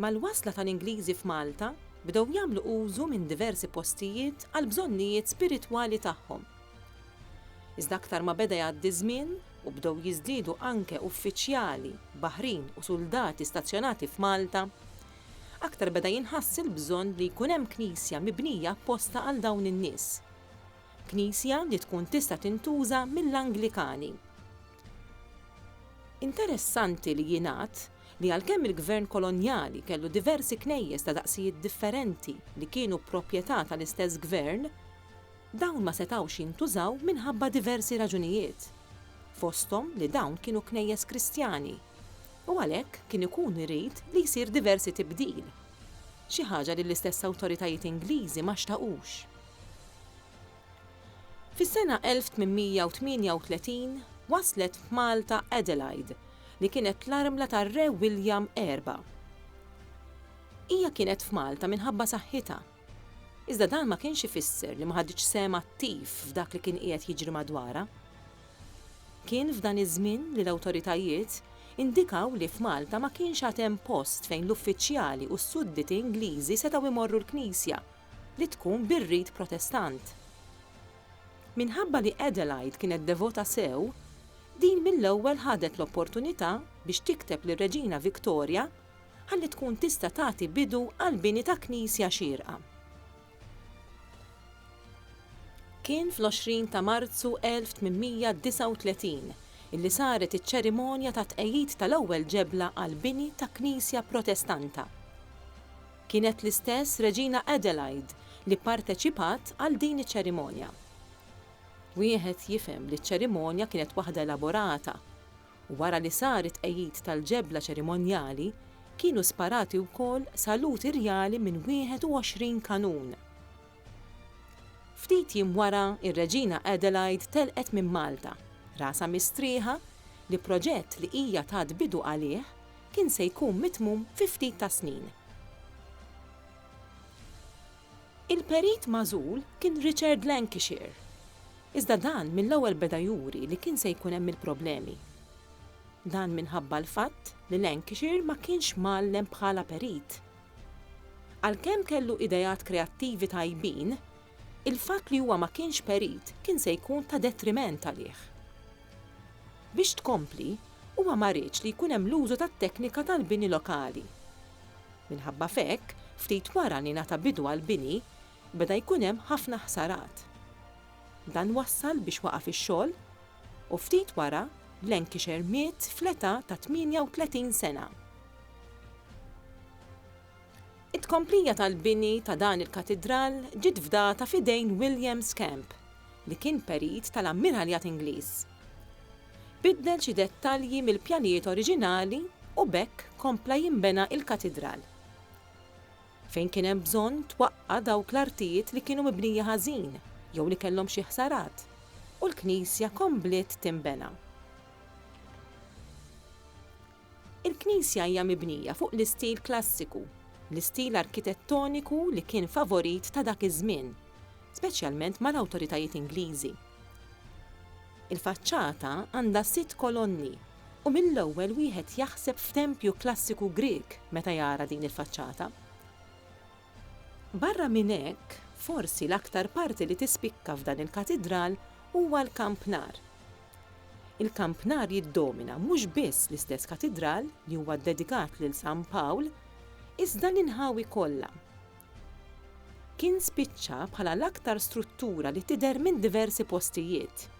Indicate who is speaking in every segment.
Speaker 1: Mal-wasla tal-Ingliżi f'Malta, bdew jagħmlu użu minn diversi postijiet għall-bżonnijiet spiritwali tagħhom. Iżda aktar ma beda jgħaddi ż-żmien u bdew jiżdiedu anke uffiċjali, baħrin u suldati stazzjonati f'Malta, aktar beda jinħass il-bżonn li jkun hemm knisja mibnija apposta għal dawn in-nies. Knisja li tkun tista' tintuża mill-Anglikani. Interessanti li jingħad li għalkemm il-Gvern Kolonjali kellu diversi knejjes ta' daqsijiet differenti li kienu proprjetà tal-istess Gvern, dawn ma setgħux jintużaw minħabba diversi raġunijiet, fosthom li dawn kienu knejjes Kristjani, u għalhekk kien ikun irid li jsir diversi tibdil, xi ħaġa li l-istess awtoritajiet Ingliżi ma xtaqux. Fis-sena 1838 waslet f'Malta Adelaide, li kienet l-armla tar-Re William Erba'. Hija kienet f'Malta minħabba saħħitha. Iżda dan ma kienx ifisser li ma ħaditx sehem attiv f'dak li kien qiegħed jiġri madwarha. Kien f'dan iż-żmien li l-awtoritajiet indikaw li f'Malta ma kienx għad hemm post fejn l-uffiċjali u s-sudditi Ingliżi setgħu jmorru l-knisja, li tkun bir-rit Protestant. Minħabba li Adelaide kienet devota sew, din mill-ewwel ħadet l-opportunità biex tikteb lir-Reġina Victoria ħalli tkun tista' tagħti bidu għall-bini ta' knisja xierqa. Kien fl-20 ta' Marzu 1839 illi saret iċ-ċerimonja tat-tqegħid tal-ewwel ġebla għall-bini ta' knisja Protestanta. Kienet l-istess Reġina Adelaide li pparteċipat għal din iċ-ċerimonja. Wieħed jifhem li ċ-ċerimonja kienet waħda elaborata. Wara li sar it-tqegħid tal-ġebla ċerimonjali, kienu sparati wkoll saluti rjali minn 21 kanun. Ftit jiem wara, ir-Reġina Adelaide telqet minn Malta, rasha mistrieħa li proġett li hija tat bidu għalih kien se jkun mitmum fi ftit tas-snin. Il-perit magħżul kien Richard Lancashire, iżda dan mill-ewwel beda juri li kien se jkun hemm il-problemi. Dan minħabba l-fatt li Lancashire ma kienx mgħallem bħala perit. Għalkemm kellu ideat kreattivi tajbin, il-fatt li huwa ma kienx perit kien se jkun ta' detriment għalih. Biex tkompli, huwa ma riedx li jkun hemm l-użu tat-teknika tal-bini lokali. Minħabba f'hekk, ftit wara li ngħata bidu għall-bini, beda jkun hemm ħafna ħsarat. Dan wassal biex waqaf ix-xogħol u ftit wara, Lancashire miet fl-età ta' 38 sena. It-tkomplija tal-bini ta' dan il-katidral ġiet fdata f'idejn William Scamp, li kien perit tal-Ammiralljat Ingliż. Biddel xi dettalji mill-pjanijiet oriġinali u b'hekk kompla jinbena il-katidral. Fejn kien hemm bżonn twaqqa' dawk l-artijiet li kienu mibnija ħażin jew li kellhom xi ħsarat u l-knisja kombliet tinbena. Il-knisja hija mibnija fuq l-istil klassiku, l-istil arkitettoniku li kien favorit ta' dak iż-żmien, speċjalment mal-awtoritajiet Ingliżi. Il-faċċata għandha sitt kolonni u mill-ewwel wieħed jaħseb f'tempju klassiku Grieg meta jara din il-faċċata. Barra minn hekk, forsi l-aktar parti li tispikka f'dan il-katidral huwa l-kampnar. Il-kampnar jiddomina mhux biss l-istess katidral li huwa ddedikat lil San Pawl, iżda l-inħawi kollha. Kien spiċċa bħala l-aktar struttura li tidher minn diversi postijiet.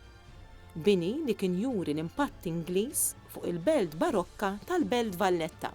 Speaker 1: Bini li kien juri l-impatt Ingliż fuq il-belt barokka tal-Belt Valletta.